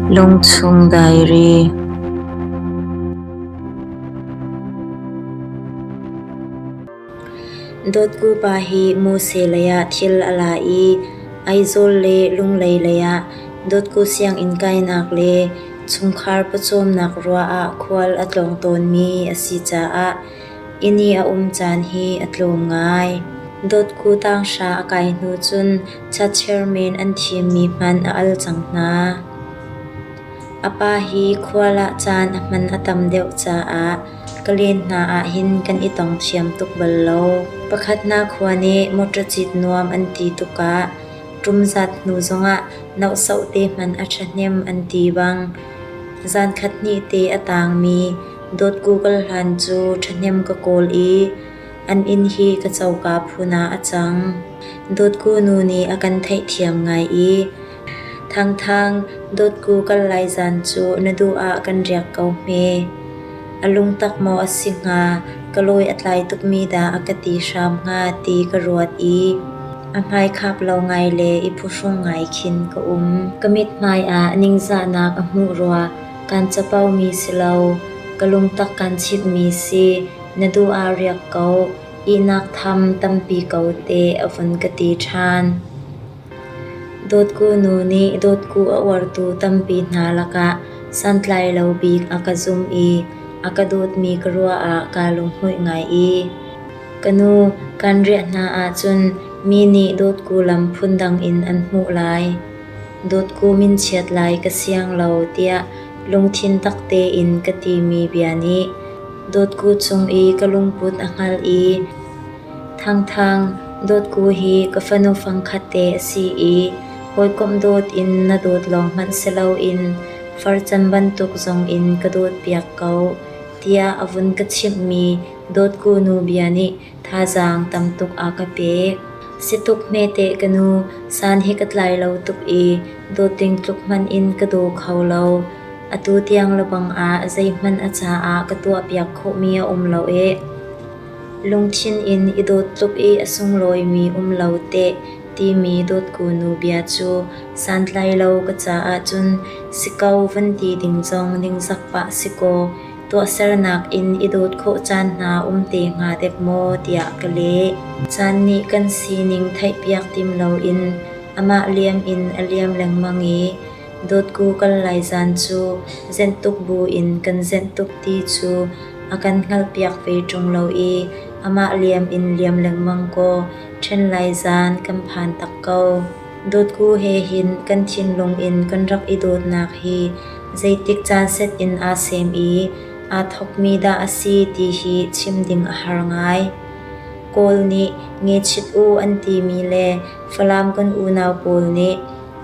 Lungchung Diary Dawtkupa hi Mose leiah thil a la i Aizawl le Lunglei leiah dawtku sianginn kainak le chungkhar pawcawmnak ruah ah khual a tlawng tawnmi a si caah Inn i a um caan hi a tlawm ngai. Dotku tanghra a kai hnu cun cha chairman an thimmi hmanh a al cang hna. A pa hi khual ah caan a hman a tam deuh caah ka len hna ahhin kan i tong thiam tuk bal lo. Pakhatnak khua nih motor cit nuam an ti tukah ṭum zat hnu zongah nohsoh te hmanh a ṭhahnem an ti bang. Zan khat hnih te a tangmi Dawt Google hlan cu ṭhahnem ka kawl i an inn hi ka coka phun ah a cang. Dawtku nu nih a kan theihthiam ngai i Thangthang, dawtku kan lai zan cu na duh ah kan riak ko hme. A lungtak maw a si hnga, ka lawi a tlai tukmi dah a ka ti hram hnga ti ka ruat i a hmaikhap lo ngai le i phuhrung ngai khin ka um. Ka mithmai ah ningzahnak a hmuh rua. Kan capo mi si lo. Ka lungtak kan chitmi si. Na duh ah riak ko. Ihnak tham tampi ko te a vun ka ti ṭhan. Dawtku nu nih dawtku a uartu tampi hna lakah santlai lo bik a ka zumh i a ka dawtmi ka ruah ah kaa lunghmuih ngai i ka nu kan riah hna ahcun mi nih dawtku lam phundang in an hmuh lai. Dawtkum in chiat lai ka siang lo tiah lungthin tak tein ka timi bia nih dawtku cung i ka lungput a hngalh i Thangthang, dawtku hi ka fanu fangkhat te a si i hawikomh dawt in na dawt lawng hmanh si loin farcan bantuk zong in ka dawtpiak ko tiah a vun ka chimhmi dawtku nu bia nih Thazaang tam tuk aa ka pek. Si tuk hme teh ka nu, san hi ka tlai lo tuk i dawt ding tluk hmanh in ka daw kho lo. Atu tiang lebang ah zeihmanh a caah ka tuahpiak khawhmi a um lo ee. Lungthin in i dawt tluk i a sunglawimi um lo teh timi dawtkunu bia cu santlai lo ka caah cun si ko van ti ding zong ningzak pah si kaw. tuahsernak in i dawt khawh caan hna um te hnga dek maw tiah ka leh. Caan nih kan sining theihpiak tim loin amah liam in a liam lengmang i dawtku kal lai zan cu zenh tuk bu in kan zenh tuk ti cu a kan hngalhpiak ve ṭung lo i amah liam in liam lengmang kaw ṭhen lai zan kan phan tak ko. Dawtku he hin kan thinlung in kan rak i dawtnak hi zeitik caan set in aa sem i aa thawkmi dah a si ti hi chim ding a har ngai. Kawl nih ngechit u an timi le Falam kan unau pawl nih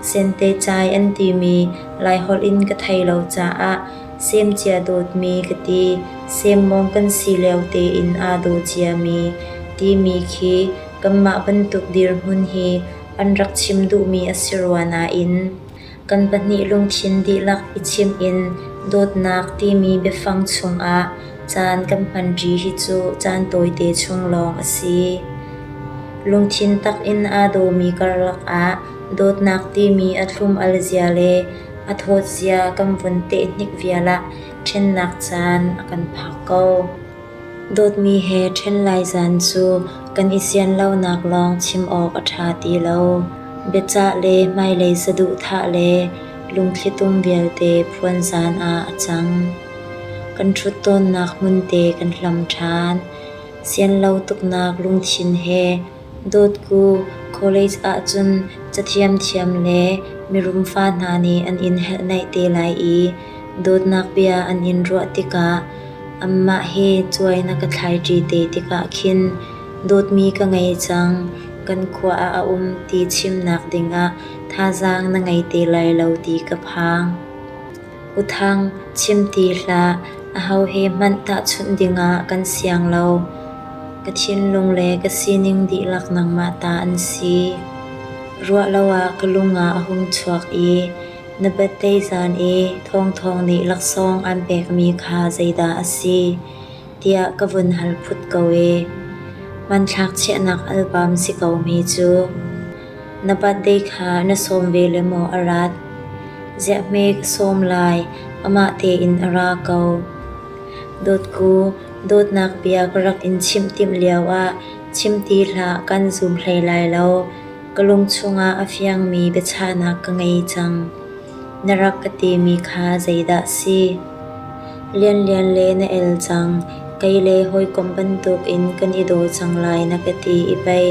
Sentecai an timi Laiholh in ka thei lo caah semcia dawtmi ka ti, semmawng kan si lio tein aa daw ciami timi khi kanmah bantuk dirhmun hi an rak chim duhmi a si rua nain kan pahnih lungthin dihlak i chim in dawtnak timi biafang chungah caan kan hmanṭi hi cu caan tawite chung lawng a si. Lungthin takin aa dawmi karlak ah dawtnak timi a thlum al zia le a thawt zia kan vun tehnik vial ah ṭhennak caan a kan phak ko. Dawtmi he ṭhen lai zan cu kan i sian lonak lawng chim awk a ṭha ti lo. Biacah le hmailei saduhthah le lungthlitum vialte phuanzan ah a cang. Kan ṭhut tawnnak hmunte kan hlam ṭhan. Sian lo tuknak lungthin he Dawtku college ahcun cathiamthiam le mirum fa hna nih an in helhnaih te lai i dawtnak bia an in ruah tikah anmah he cuai na ka thlaiṭi te tikah khin dawtmi ka ngei cang, kan khua ah a um ti chimnak dingah thazaang na ngei te lai lo ti ka phang. Uthang chim ti hlah, aho he hmanh tahchunh dingah kan siang lo. Ka thinlung le ka sining dihlak nangmah ta an si. Ruah lo ah ka lungah a hung chuak i na battei zan i thawngthawng nih laksawng aan pekmi kha zeidah a si? tiah ka vun hal phut ko ee. Hmanthlak chiahnak album si ko mi cu na birthday kha na sawm ve le maw a rat? Ziah hme ka sawm lai, amah tein a ra ko. Dawtku, dawtnak bia ka rak in chimh timh lio ah chim ti hlah kan zum hlei lai lo. Ka lung chungah a fiangmi biachahnak ka ngei cang. Na rak ka timi kha zeidah si? Lianlian le na el cang. Kei le hawikom bantuk in kan i daw cang lai na ka ti i pei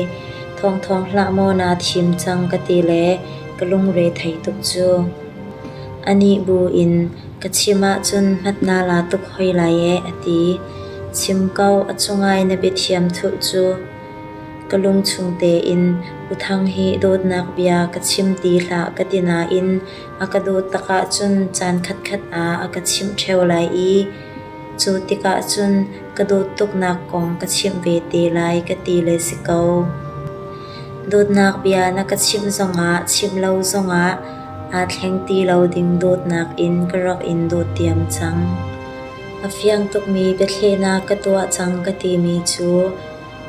thawngthawng hlah maw naa thim cang ka ti le ka lungre thei tuk cu. A nih bu in ka chim ahcun hmat na la tuk hoi lai ee a ti. Chim ko a cungai na biathiam thuh cu. Ka lungchung tein uthang hi dawtnak bia ka chim ti hlah ka ti nain a ka dawt takah cun caan khatkhat ah a ka chimh ṭheo lai i cu tikah cun ka dawt tuknak kong ka chimh ve te lai ka ti le si ko. Dawtnak bia na ka chimh zongah chimh lo zongah aa thleng ti lo ding dawtnak in ka rak in dawt diam cang. A fiang tukmi biathlehnak ka tuah cang ka timi cu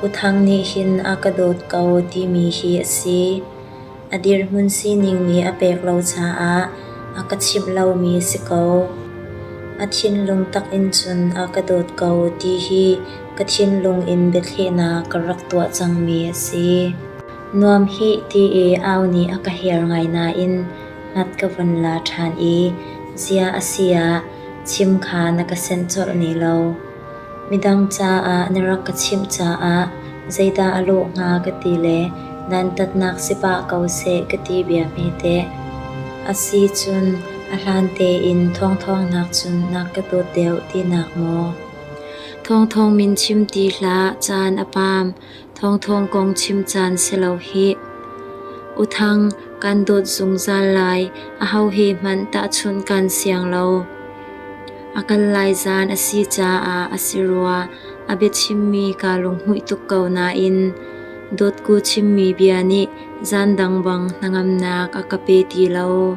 U Thang nih hin a ka dawt ko timi hi a si. A dirhmun sining nih a pek lo caah a ka chimh lomi si ko. A thinlung tak in cun a ka dawt ko ti hi ka thinlung in biathlehnak ka rak tuah cangmi a si. Nuam hih ti i au nih a ka hiar ngai nain ngat ka von la ṭhan i zia a si ah chim kha na ka senh colh ne lo. Midang caah na rak ka chimh caah zeidah a lawh hnga ka ti le dantatnak si pah ko seh ka ti bia hmete. A si cun a hlan tein thawngthawngnak cun na ka dawt deuh tinak maw? Thawngthawng min chim ti hlah caan a paam. Thawngthawng kong chim caan si lo hih. U Thang, kan dawt zungzal lai. Aho he hmanh tahchunh kan siang lo. A kal lai zaan a si caah a si rua. A biachimmi kaa lunghmuih tuk ko nain dawtku chimmi bia nih zaan dang bang hnangamnak a ka pe ti lo.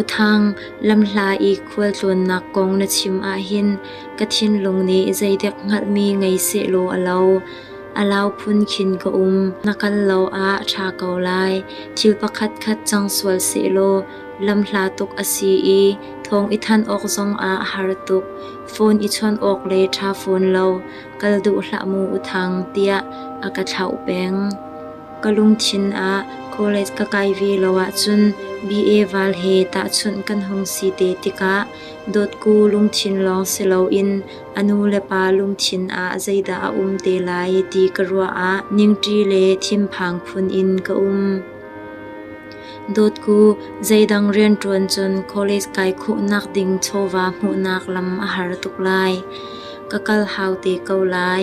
U Thang, lamhla i khualtlawnnak kong na chim ahhin ka thinlung nih zeidek hngalhmi ngei sehlaw a lo. A lau phun khin ka um. Na kal lo ah ṭha ko lai. Thil pakhatkhat cang sual sehlaw lamhla tuk a si i thawng i thanh awk zong ah a har tuk. Phone i chawnh awk le ṭha fawn lo kal duh hlah mu U Thang tiah a ka thlauh peng. ka lungthin ah college ka kai ve lo ahcun BA val he tahchunh kan hung si te tikah dawtku lungthin lawng si loin a nu le pa lungthin ah zeidah a um te lai ti ka ruah ah ningṭi le thinphang phun in ka um. Dawtku zeidang rianṭuan cun college kai khuhnak ding chawva hmuhnak lam a har tuk lai. Ka kal hau te ko lai.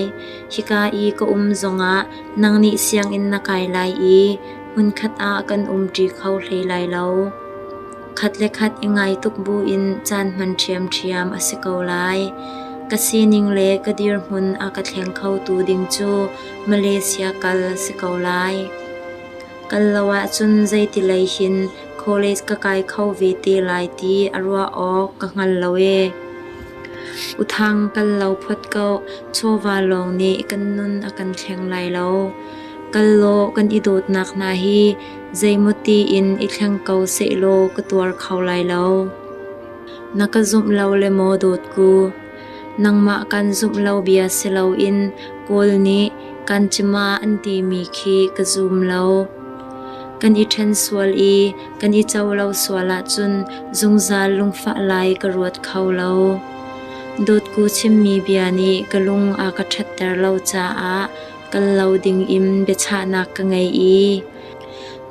Hika i ka um zongah Nang nih sianginn na kai lai i hmunkhat ah kan umṭi kho hlei lai lo. Khat le khat i ngai tuk buin caan hman ṭhiamṭhiam a si ko lai. Ka sining le ka dirhmun a ka thleng khotu ding cu Malaysia kal si ko lai. Kal lo ahcun zeitilei hin college ka kai kho ve te lai ti a ruah awk ka hngal lo ee. Uthang kal lo phot ko, chawva lawng nih kan nun a kan thleng lai lo. Kal law kan i dawtnak hna hi zeimawti in i thleng ko sehlaw ka tuar kho lai lo. Na ka zumh lo le maw dawtku? Nangmah kan zumh lo bia si loin Kawl nih kan cima an timi khi ka zum lo. Kan i ṭhen sual i Kan i co lo sual ahcun zungzal lungfah lai ka ruat kho lo. Dawtku chimmi bia nih ka lung a ka ṭhatter lo caah kal lo ding in biachahnak ka ngei i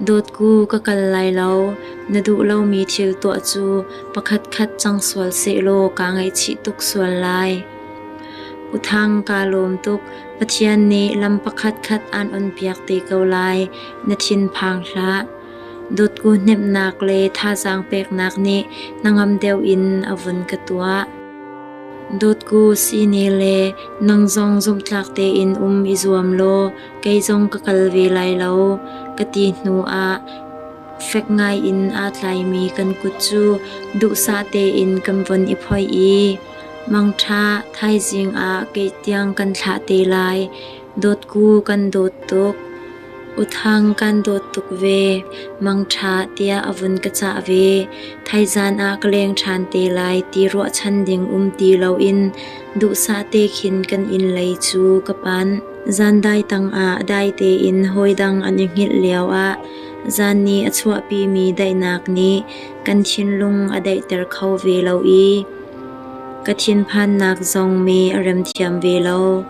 dawtku ka kal lai lo na duh lomi thil tuah cu pakhatkhat cang sual sehlaw kaa ngaihchih tuk sual lai. Uthang kaa lawm tuk Pathian nih lam pakhatkhat aan onpiak te ko lai na thinphang hlah. Dawtku hnemhnak le thazaang peknak nih hnangam deuh in a vun ka tuah. Dawtku sine le nang zong zumhtlak tein um i zuam law kei zong ka kal ve lai lo ka ti hnu ah fek ngai in aa tlaimi kan kut cu duhsah tein kan von i phoih i mangṭha thaizing ah kei tiang kan thlah te lai. Dawtku kan dawt tuk. Uthang kan dawt tuk ve. Mangṭha tiah a vun ka cah ve. Thaizan ah ka leng ṭhan te lai ti ruahchan ding um ti loin duhsah te khin kan inn lei cu ka panh. Zan dai tangah dai tein hawidang an i hngilh lioah zan nih a chuahpimi daihnak nih kan thinlung a daihter kho ve lo i Ka thinphannak zong mee a rem thiam ve lo.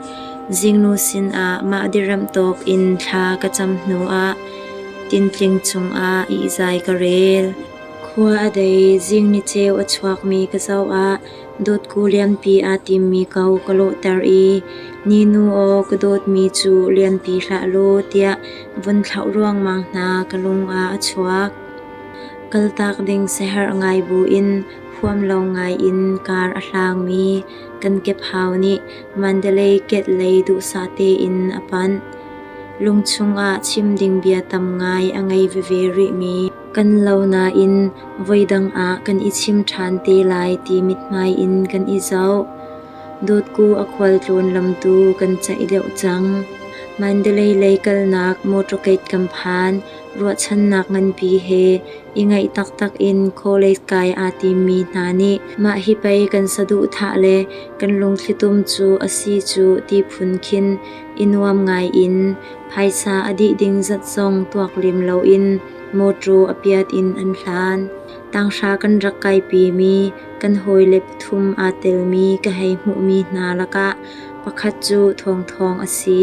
Zingnu sinah mah direm tawk in thla ka cam hnuah tintling cungah ihzai ka rel. Khua a dei zingni ceu a chuakmi ka zoah dotku lianpi aa timmi ko ka lawhter i ni nu aw ka dawtmi cu lianpi hlah law tiah vun thlauh ruangmang hna ka lungah a chuak. Kaltak ding siherh ngai buin huam lawng ngaiin kar a hlangmi kan kephau nih Mandalay gate lei duhsah tein a panh. Lungchung ah chim ding bia tam ngai a ngei veve rihmi kan lo nain voidang ah kan i chim ṭhan te lai ti mithmai in kan i zoh. Dotku a khualtlawn lamtu kan caih deuh cang. Mandalay lei kalnak motorgate kam phan Ruahchannak nganpi he i ngaih taktak in College kai aa timmi hna nih mah hi pei kan saduhthah le kan lungthlitum cu a si cu ti phun khin i nuam ngai in phaisa a dih ding zat zong tuak lem loin mawṭaw a piat in an hlan. Tanghra kan rak kaipimi kan hawile pathum aa telmi ka hei hmuhmi hna lakah pakhat cu thawngthawng a si.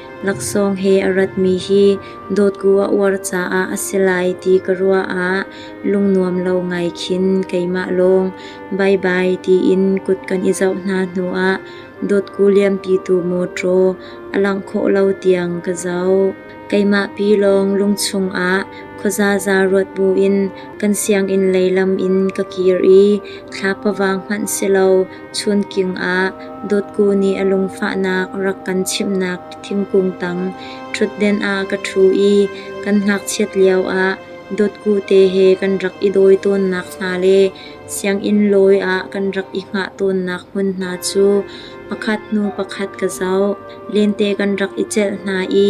Laksawng he a ratmi hi dawtku a uar caah a si lai ti ka ruah ah lungnuam lo ngai khin keimah lawng baibai tiin kut kan i zoh hna hnuah dawtku lianpitu mawṭaw a langh khawh lo tiang ka zoh. Keimah pi lawng lungchung ah khuazaza ruat buin kan sianginn lei lam in ka kir i thla pavang hmanh si lo Chunking ah Dawtku nih a lungfahnak rak kan chimhnak thingkung tang ṭhutden ah ka ṭhu i kan ngakchiat lioah dawtku te he kan rak i dawi tawnnak hna le sianginn lawi ah kan rak i hngah tawnnak hmun hna cu pakhat hnu pakhat ka zoh. Lente kan rak i celh hna i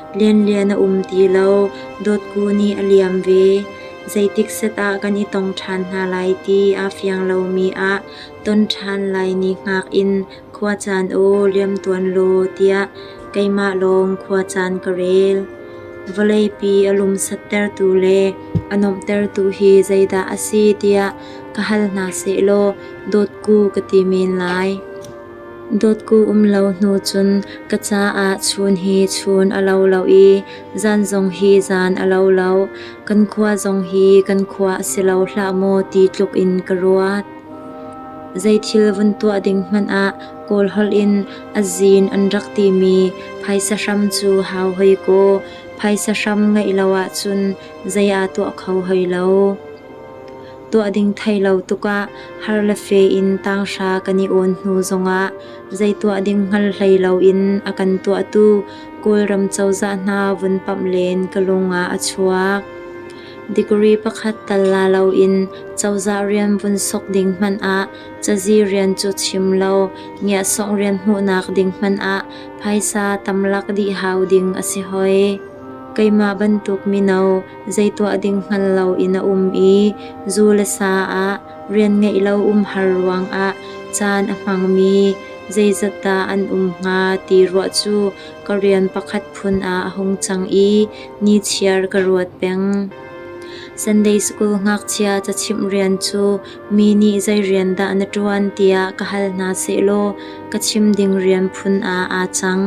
Lianlian a um ti lo. Dawtku nih a liam ve. Zeitik setah kan i tong ṭhan hna lai ti aa fiang lomi ah ton ṭhan lai ni hngak in khua caan u liam tuan law tiah keimah lawng khua caan ka rel. Vawleipi a lumsattertu le a nuamhtertu hi zeidah a si tiah ka hal hna sehlaw dawtku ka ti men lai. Dawtku um lo hnu cun ka caah chun hi chun a lo lo i zan zong hi zan a lo lo. Kan khua zong hi kan khua a si lo hlah maw ti tluk in ka ruat. Zeithil vun tuah ding hmanh ah Kawl holh in azin an rak timi phaisa hram cu hau hoi kaw phaisa hram ngeih lo ahcun zei aa tuah kho hoi lo. tuah ding thei lo tukah har le fe in tanghra kan i awn hnu zongah zei tuah ding hngal hlei loin a kan tuahtu Kawlram cozah hna vun pamh len ka lungah a chuak. Degree pakhat tal la loin cozah rian vun sok ding hmanh ah cazi rian cu chim lo ngiahsawh rian hmuhnak ding hmanh ah phaisa tamlak dih hau ding a si hoi. Keimah bantuk mino Zei tuah ding hngal loin a um i zu le sa ah rian ngeih lo umhar ruangah caan a hmangmi zeizat dah an um hnga ti ruah cu ka rian pakhat phun ah a hung cang i ni chiar ka ruat peng. Sunday School ngakchia cachimh rian cu mi nih zei rian dah na ṭuan tiah ka hal hna sehlaw ka chim ding rian phun ah aa cang.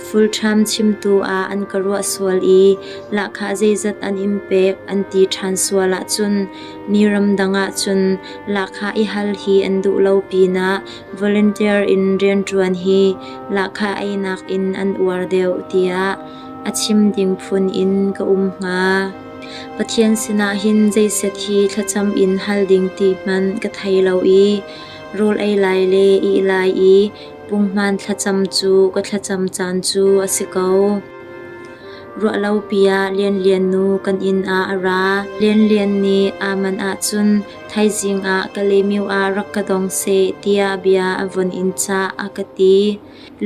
Fulṭham chimtu ah an ka ruah sual i lahkhah zeizat an in pek an ti ṭhan sual ahcun mi ramdang ahcun lahkhah i hal hi an duh lo pinah volunteer in rianṭuan hi lahkhah einak in an uar deuh tiah a chim ding phun in ka um hnga. Pathian sinah hin zeiset hi thlacam in hal ding ti hmanh ka thei lo i rawl ei lai le ih lai i Punghman thlacam cu ka thlacam caan cu a si ko. Ruahlopi ah Lianlian nu kan inn ah a ra. Lianlian nih aman ahcun thaizing ah Kalemiu ah rak ka dong seh tiah bia a von in cah a ka ti.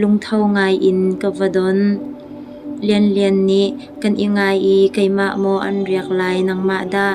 Lungtho ngai in ka va don. Lianlian nih kan i ngai i keimah maw an riak lai nangmah dah?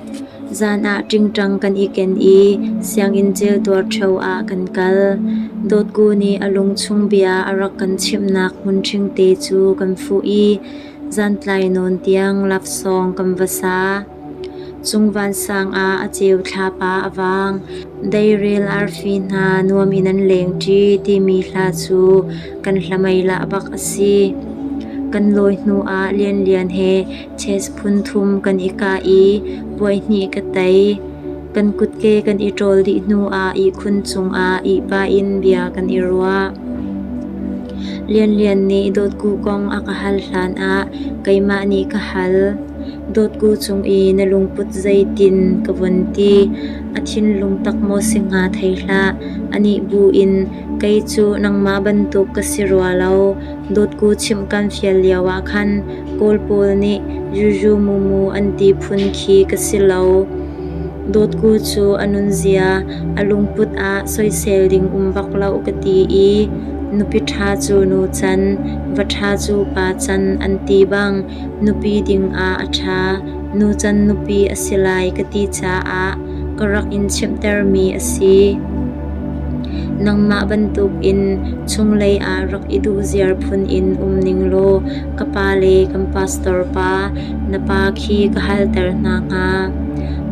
Zan ah ṭingṭang kan i ken i sianginn celtuar ṭheo ah kan kal. Dawtku nih a lungchung bia a rak kan chimhnak hmun ṭhingte cu kan fuh i zantlai nawn tiang lafsawng kan va sa. Cung vansang ah a ceu thlap ah a vang. Deirel arfi hna nuam in an lengṭi timi hla cu kan hlamei lah bak a si. Kan lawi hnu ah lianlian he Church phunthum kan i kah i puaihnih ka tei. Kan kutke kan i ṭawl dih hnu ah ihkhun cungah ihba in bia kan i ruah. Lianlian nih dawtku kong a ka hal hlan ah keimah nih ka hal. Dawtku cung i na lungput zeitin ka vun ti. A thinlung tak maw si hnga thei hlah. Anih bu in kei cu nangmah bantuk ka si rua lo. Dotku chim kan fial lio ah khan Kawl pawl nih Juju Mumu an ti phun khi ka si lo. Dotku cu a nunzia a lungput ah soisel ding um bak lo ka ti i nupi ṭha cu nu can, va ṭha cu pa can an ti bang nupi dingah a ṭha, nucan nupi a si lai ka ti caah ka rak in chimhtermi a si. Nangmah bantukin chunglei ah rak i duh ziar phun in um ning law ka pa le kan pastor pa na pa khi ka halter hna hnga.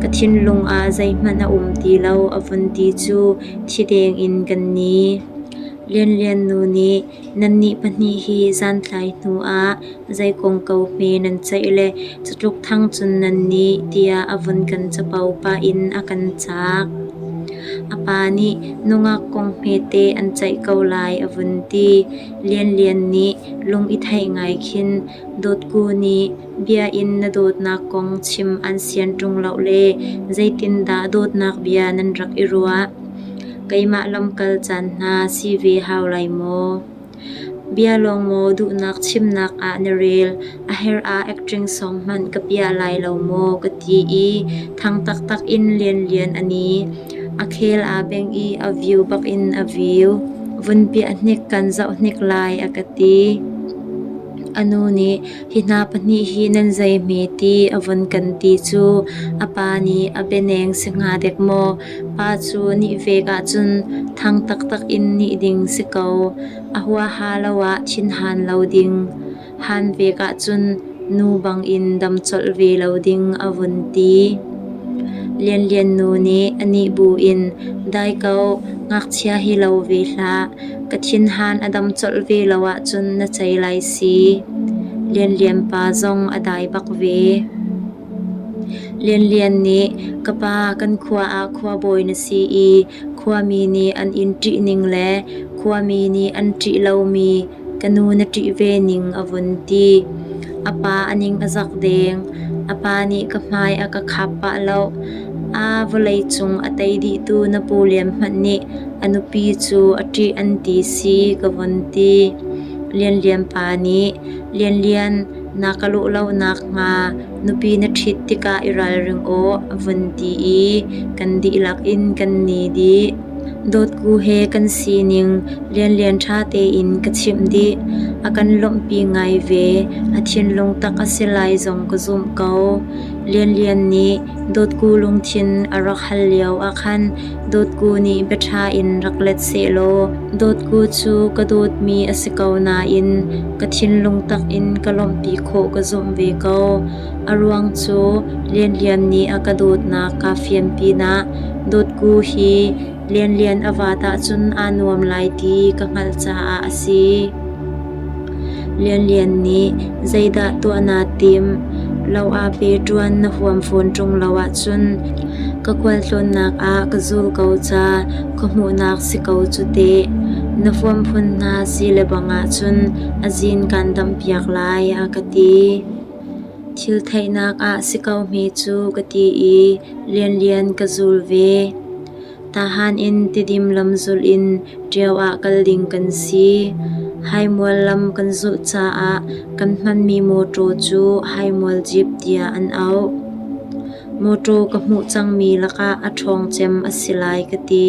Ka thinlung ah zeihmanh a um ti lo a vun ti cu thi deng in kan ni. Lianlian nu nih Nannih pahnih hi zantlai hnuah zei kongko hme nan ceih le catluk thang cun nan nih tiah a vun kan capo pah in a kan cak. A pa nih nungak kong hmete an ceih ko lai a vun ti. Lianlian nih lung i theih ngai khin Dawtku nih Biakinn na dawtnak kong chim an sian ṭung lo le zeitindah dawtnak bia nan rak i ruah? Keimah lamkal caan hna si ve hau lai maw? Bia lawng maw duhnak chimnak ah na rel, a her ah acting song hmanh ka piah lai lo maw ka ti i thang taktak in lianlian a ni. A khel aa beng i a view bakin a view. Vun piah hnik kan zoh hnik lai a ka ti. A nu nih Hi hna pahnih hi nan zei hme ti a vun kan ti cu a pa nih a bianeng si hnga dek maw? Pa cu nih vek ahcun thang taktak in nih ding si ko. A huaha lo ah thinhan lo ding. Han vek ahcun nu bangin dam colh ve lo ding a vun ti. Lianlian nu nih a nih bu in dai ko ngakchia hi lo ve hlah. ka thinhan a dam colh ve lo ahcun na cei lai si. Lianlian pa zong a dai bak ve. Lianlian nih ka pa kan khua ah khuabawi na si i khuami nih an in ṭih ning le khuami nih an ṭih lomi ka nu na ṭih ve ning a vun ti. A pa a ning a zak deng. A pa nih ka hmai a ka khap pah lo. A vawleicung a tei dihtu napu lianhmanh nih a nupi cu a ṭih an ti si ka vun ti. Lianlian pa nih, Lianlian, na ka lawh lo nakhnga nupi na ṭhit tikah i ralring aw, a vun ti i kan dihlak in kan ni dih. Dawtku he kan sining lianlian ṭha tein ka chimh dih. A kan lawmhpi ngai ve. A thinlung tak a si lai zong ka zumh ko. Lianlian nih dawtku lungthin a rak hal lio ah khan dawtku nih bia ṭha in rak let sehlaw dawtku cu ka dawtmi a si ko nain ka thinlung tak in ka lawmhpi khawh ka zumh ve ko. A ruang cu Lianlian nih a ka dawtnak kaa fian pinah dawtku hi Lianlian a vaat ahcun aa nuam lai ti ka hngalh caah a si. Lianlian nih zeidah tuah naa tim? Lo ah pe ṭuan na huam fawn ṭung lo ahcun ka khualtlawnnak ah ka zul ko ca ka hmuhnak si ko cu teh. Na huam phun hna si lebang ahcun a zin kaan dampiak lai a ka ti. Thil theihnak ah si ko hme cu ka ti i lianlian ka zul ve. Tahan in Tidim lam zulh in Ṭiau ah kal ding kan si. Haimual lam kan zulh caah kan hmanmi mawṭaw cu haimual jeep tiah an auh. Mawṭaw ka hmuh cangmi lakah a ṭhawng cem a si lai ka ti.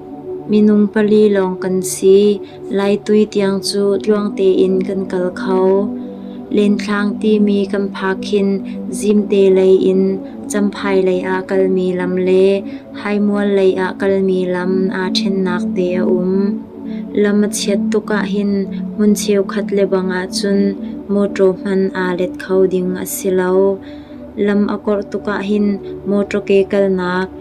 Minung pali lawng kan si, Lai tui tiang cu tluang tein kan kal kho. Lenthlang timi kan phak hin Zimte lei in Champhai lei ah kalmi lam le Haimual lei ah kalmi lam aa ṭhennak te a um. Lam a chiat tuk ahhin hmun cheukhat lebang ahcun mawṭaw hman aa let kho ding a si lo. Lam a korh tuk ahhin mawṭaw ke kalnak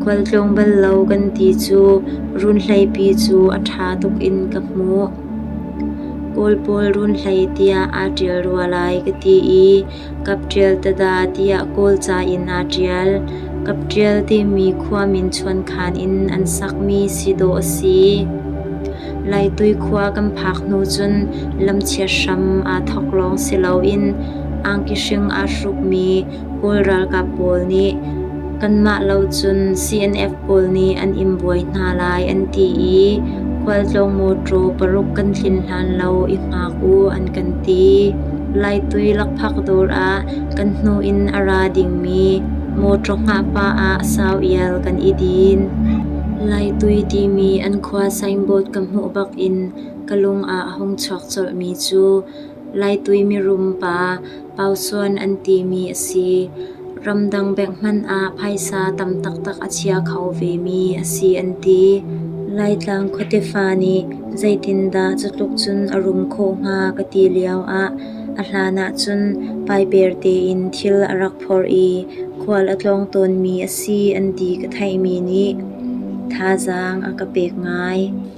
Khualtlawng bal lo kan ti cu runhleipi cu a ṭha tuk in ka hmuh. Kawl pawl runhlei tiah aa ṭial rua lai ka ti i kap ṭial tada tiah Kawlca in aa ṭial. Kap ṭial timi khua min chuankhan in an sakmi si dawh a si. Laitui khua kan phak hnu cun lam chiat hram aa thawk lawng si loin angki hring aa hrukmi Kawl ralkap pawl nih kanmah lo cun CNF pawl nih an in buai hna lai an ti i khualtlawng mawṭaw paruk kan tlin hlan lo i hngak u an kan ti. Laitui lakphak dawr ah kan hnu in a ra dingmi mawṭaw hngah pah ah sau ial kan i din. Laitui timi an khua signboard ka hmuh bak in ka lung ah hung chuak colhmi cu Laitui mirum pa Pausuan an timi a si. Ramdang bengh hmanh ah phaisa tam taktak a chia kho vemi a si an ti. Laitlang khuatefa nih zeitindah cutluk cun a rum khawh hnga ka ti lioah a hlan ahcun paiper tein thil a rak phorh i khual a tlawng tawnmi a si an ti ka theihmi nih thazaang a ka pek ngai.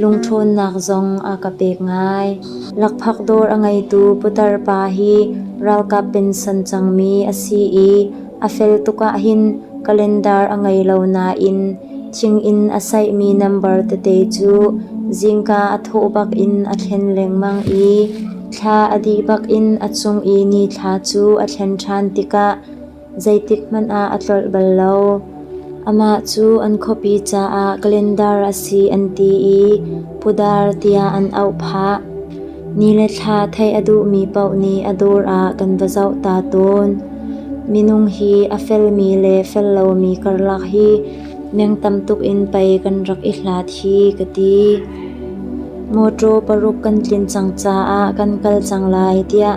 Lungṭhawnnak zong a ka pek ngai. Lakphak dawr a ngeitu putar pa hi ralkap pensan cangmi a si i a fel tuk ahhin kalendar a ngei lo nain thinginn a saihmi nambar tete cu zingka a thawh bak in a thlen lengmang i thla a dih bak in a cung i ni thla cu a thlen ṭhan tikah zeitikhmanh ah a tlolh bal lo. Amah cu an khuapi caah calendar a si an ti i pudar tiah an auh phah. Ni le thla theih a duhmi paoh nih a dur ah kan va zoh ta tawn. Minung hi a felmi le fel lomi karlak hi meng tam tuk in pei kan rak i hlat hi ka ti. Mawṭaw paruk kan tlin cang caah kan kal cang lai tiah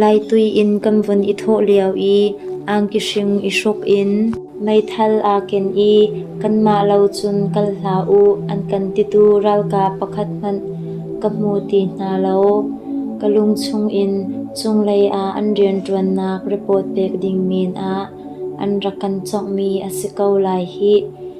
Laitui in kan vun i thawh lio i angki hring i hruk in meithal aa ken i kanmah lo cun kal hlah u an kan titu ralkap pakhat hmanh ka hmu ti hna lo. Ka lung chungin cunglei ah an rianṭuannak report pek ding men ah an rak kan conghmi a si ko lai hih.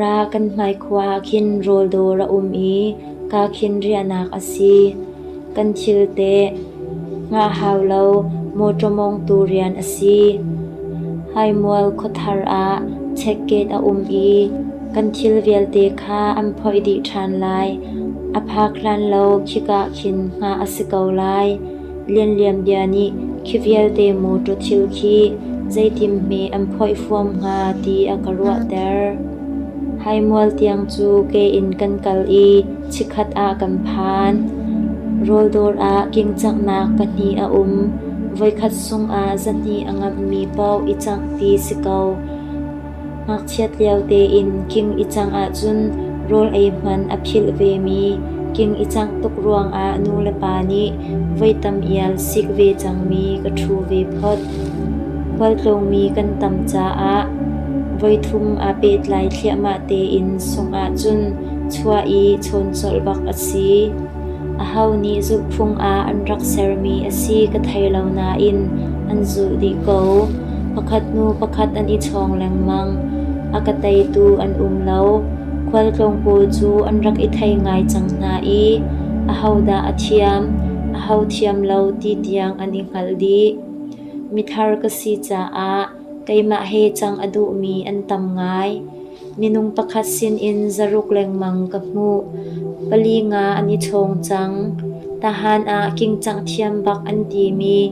Ra kan hmai khua ah khin rawldawr a um i ka khin riahnak a si. Kan thil teh ngah hau lo mawṭaw mawngtu rian a si. Haimual khuathar ah checkgate a um i kan thil vialte kha an phoih dih ṭhan lai. A phak hlan lo khika khin ngah a si ko lai. Lianlian bia nih khi vialte motor thil khi zeitim hme an phoihfuam hnga ti a ka ruahter. Haimual tiang cu ke in kan kal i chikkhat ah kan phan. Rawldawr ah kingcanghnak pahnih a um. Voikhat sungah zahnih a ngammi paoh i cangh ti si ko. Ngakchiat lio tein king i cang ahcun rawl ei hman a philh vemi king i cangh tuk ruangah nu le pa nih voi tam ial sik ve cangmi ka ṭhu ve phot. Khualtlungmi kan tam caah voi thum aa pehtlai thliahmah tein sungh ahcun chuah i chawn colh bak a si. Aho nih zulhphung ah an rak sermi a si ka thei lo nain an zulh dih ko. Pakhat hnu pakhat an i chawng lengmang. A ka teitu an um lo. Khualtlung pawl cu an rak i thei ngai cang hna i ahodah a thiam, aho thiam lo ti tiang an i hngalh dih. Mithar ka si caah keimah he cang a duhmi an tam ngai. Minung pakhat sinin zaruk lengmang ka hmuh. Pali nga an i ṭhawng cang. Tahan ah kingcang thiam bak an timi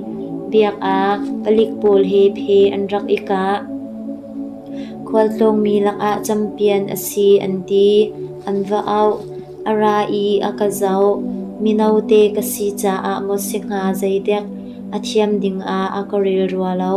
biakak palik pawl he phe an rak i kah. Khualtlawngmi lakah campian a si an ti. An va auh. A ra i a ka zoh. Mino te ka si caah maw si hnga zeidek a thiam dingah a ka rel rua lo.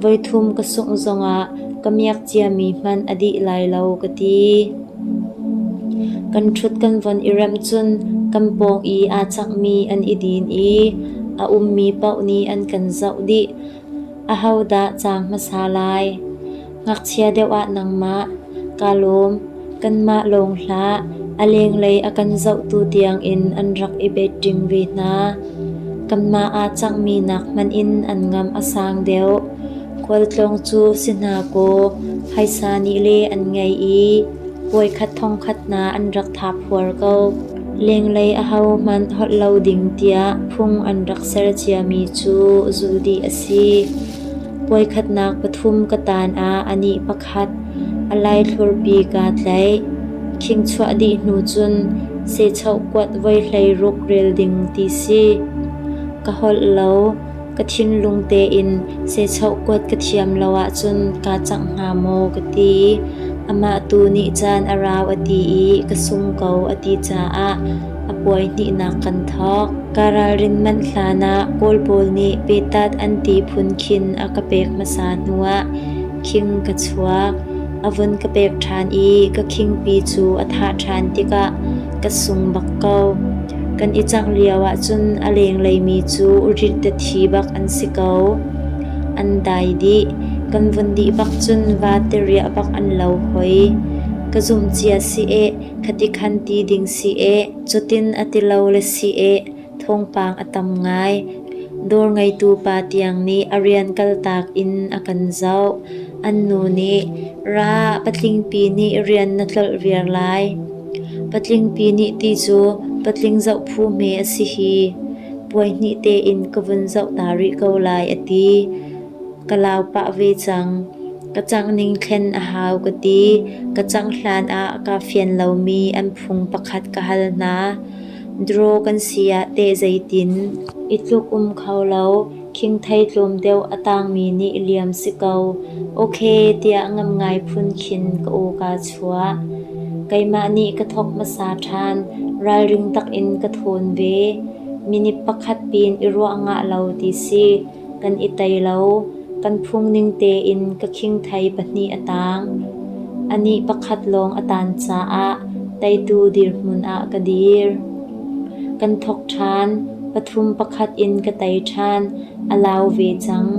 Voithum ka sungh zongah ka miak ciami hmanh a dih lai lo ka ti. Kan ṭhut kan von i remh cun kan pawng i aa cakmi an i din i a ummi paoh nih an kan zoh dih. Ahodah cang hmasa lai? Ngakchia deuh ah nangmah, kaa lawm. Kanmah lawng hlah, a lenglei a kan zohtu tiangin an rak i beṭing ve hna. Kanmah ah cangmi nak hmanh in an ngam a sang deuh. Khualtlawng cu si hna kaw, phaisa nih le an ngei i puai khat thongkhat hna an rak thap huar ko. Lenglei ahohmanh holh lo ding tiah phung an rak ser ciami cu zu dih a si. Puai khatnak pathum ka tan ah anih pakhat khat. A laithlur bik aa tlaih. Khingchuah dih hnu cun sehchoh kuat voi hleiruk rel ding ti si. Ka holh lo. Ka thinlung tein sehchoh kuat ka thiam lo ahcun kaa cangh hnga maw ka ti i amah tu nih caan a rau a ti i ka sung ko a ti caah a puai hnihnak kan thawk. Ka ralrin manh hlan ah Kawl pawl nih petat an ti phun khin a ka pek hmasa hnuah khing ka chuak. A vun ka pek ṭhan i ka khingpi cu a thah ṭhan tikah ka sung bak ko. Kan i cangh lio ahcun a lengleimi cu rittethi bak an si ko. An dai dih. Kan vun dih bak cun vate riah bak an lo hoi. Ka zumh cia si eh, khati khan ti ding si eh, cutin a ti lo le si eh, Thawngpang a tam ngai. Dawr ngeitu pa tiang nih a rian kaltak in a kan zoh. An nu nih, Ra, patlingpi nih rian na tlolh viar lai. Patlingpi nih ti cu patling zoh phu hme a si hi. Puaihnih tein ka vun zoh ta rih ko lai a ti. Ka lau pah ve cang. Ka cangh ning thlen a hau ka ti. Ka cangh hlan ah kaa fian lomi an phung pakhat ka hal hna. Dro kan si ah teh zeitin? I tluk um kho lo, khingthei tlawm deuh a tangmi nih liam si ko, ok tiah ngamngai phun khin ka aw kaa chuah. Keimah nih ka thawk hmasa ṭhan, ralring takin ka thawn ve. Minit pakhat pin i ruah ngah lo ti si. Kan i tei lo. Kan phung ning tein ka khingthei pahnih a taang. Anih pakhat lawng a taan caah teitu dirhmun ah ka dir. Kan thawk ṭhan. Pathum pakhat in ka tei ṭhan. A lau ve cang.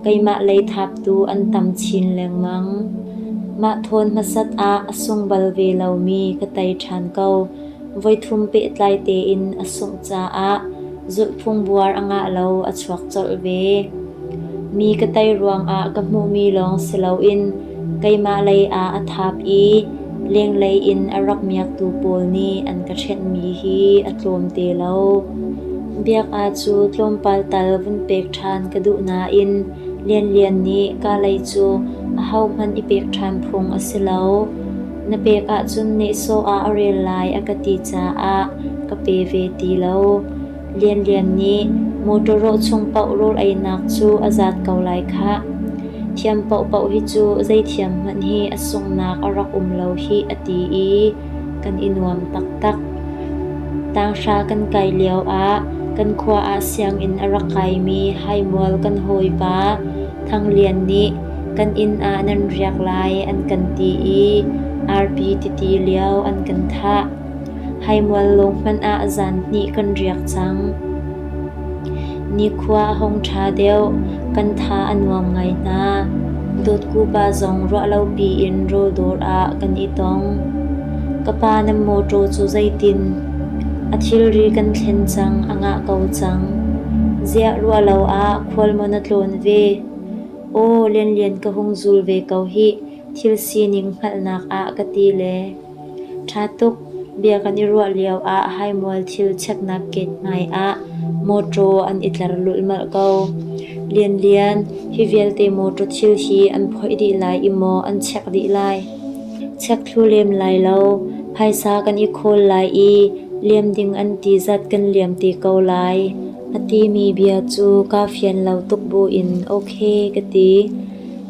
Keimah lei thaptu an tam chin lengmang. Mah thawn hmasat ah a sung bal ve lomi ka tei ṭhan ko. Voithum pehtlai tein a sungh caah zulhphung buar a ngah lo a chuak colh ve. Mi ka tei ruangah ka hmuhmi lawng si loin keimah lei ah a thap i lenglei in a rak miaktu pawl nih an ka ṭhenhmi hi a tlawm te lo. Biakah cu tlawmpal tal vun pek ṭhan ka duh nain Lianlian nih ka lei cu ahohmanh i pek ṭhan phung a si lo. Na pek ahcun nehsawh ah a rel lai a ka ti caah ka pe ve ti lo. Lian Lian nih motor rawh chung paoh rawl einak cu a zat ko lai khah. Thiam paohpaoh hi cu zeithiam hmanh hi a sungnak a rak um lo hi a ti i kan i nuam taktak. Tanghra kan kai lio ah kan khua ah sianginn a rak kaimi haimual kan hawipa Thang Lian nih kan inn ah nan riak lai an kan ti i arpi titi lio an kan thah. Haimual lung hmanh ah zan hnih kan riak cang. Nikhua a hong ṭha deuh, kan tha a nuam ngai hna. Dawtkupa zong ruah lopi in rawldawr ah kan i tong. Ka pa na motor cu zeitin? A thilri kan thlen cang, a ngah ko cang. Ziah ruah lo ah khual maw na tlawn ve? Aw Lianlian ka hung zul ve ko hih, thil sining hngalhnak ah ka ti le. Ṭha tuk, bia kan i ruah lio ah haimual thil cheknak gate hmai ah mawṭaw an i tlar lulmal ko. Lianlian, hi vialte mawṭaw thil hi an phoih dih lai i maw an chek dih lai? Chek thlu lem lai lo, phaisa kan i khawl lai i liam ding an ti zat kan liam te ko lai. A timi bia cu kaa fian lo tuk buin "Okay" ka ti.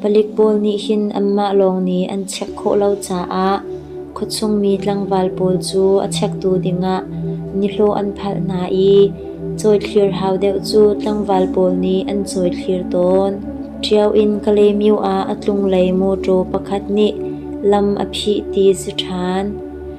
Palik pawl nih hin anmah lawng nih an check khawh lo caah khuachungmi tlangval pawl cu a checktu dingah nihlawh an phalh hna i cawithlir hau deuh cu tlangval pawl nih an cawithlir tawn. Ṭio in Kalaymyo ah a tlunglei mawṭaw pakhat nih lam a phih ti si ṭhan.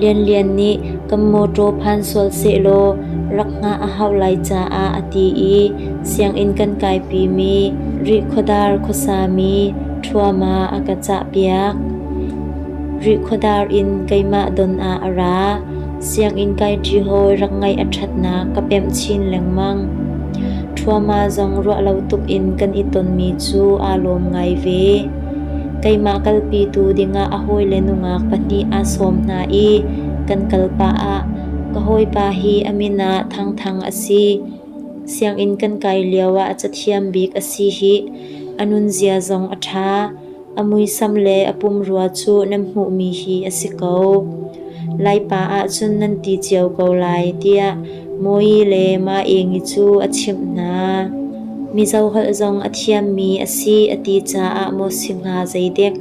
Lianlian nih kan mawṭaw phan sual sehlaw rak hngah a hauh lai caah a ti i sianginn kan kaipimi Rihkhuadar khuasami ṭhuama a ka cahpiak. Rihkhuadar in keimah don ah a ra. Sianginn kaiṭi hawi rak ngaih a ṭhatnak ka pemh chin lengmang. Ṭhuama zong ruah lo tuk in kan i tonmi cu aa lawm ngai ve. Keimah kalpi tu dingah a hawile nungak pahnih aa sawm hna i kan kal pah ah ka hawipa hi a min ah Thang Thang a si. Sianginn kan kai lioah a cathiam bik a si hih. A nunzia zong a ṭha. A muisam le a pumrua cu nan hmuhmi hi a si ko. Laipa ahcun nan ti cio ko lai tiah Mui le Maengi cu a chimh hna. Mizoholh zong a thiammi a si a ti caah Mosi hna zeidek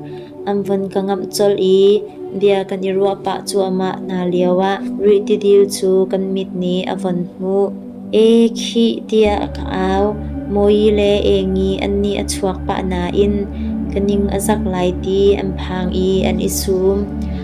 an von ka ngamh colh i bia kan i ruah pah cuahmah hna lioah Rih Tidil cu kan mit nih a von hmuh. E khih tiah ka au. Mui le Engi an nih a chuak pah nain ka ning a zak lai ti an phang i an i sum.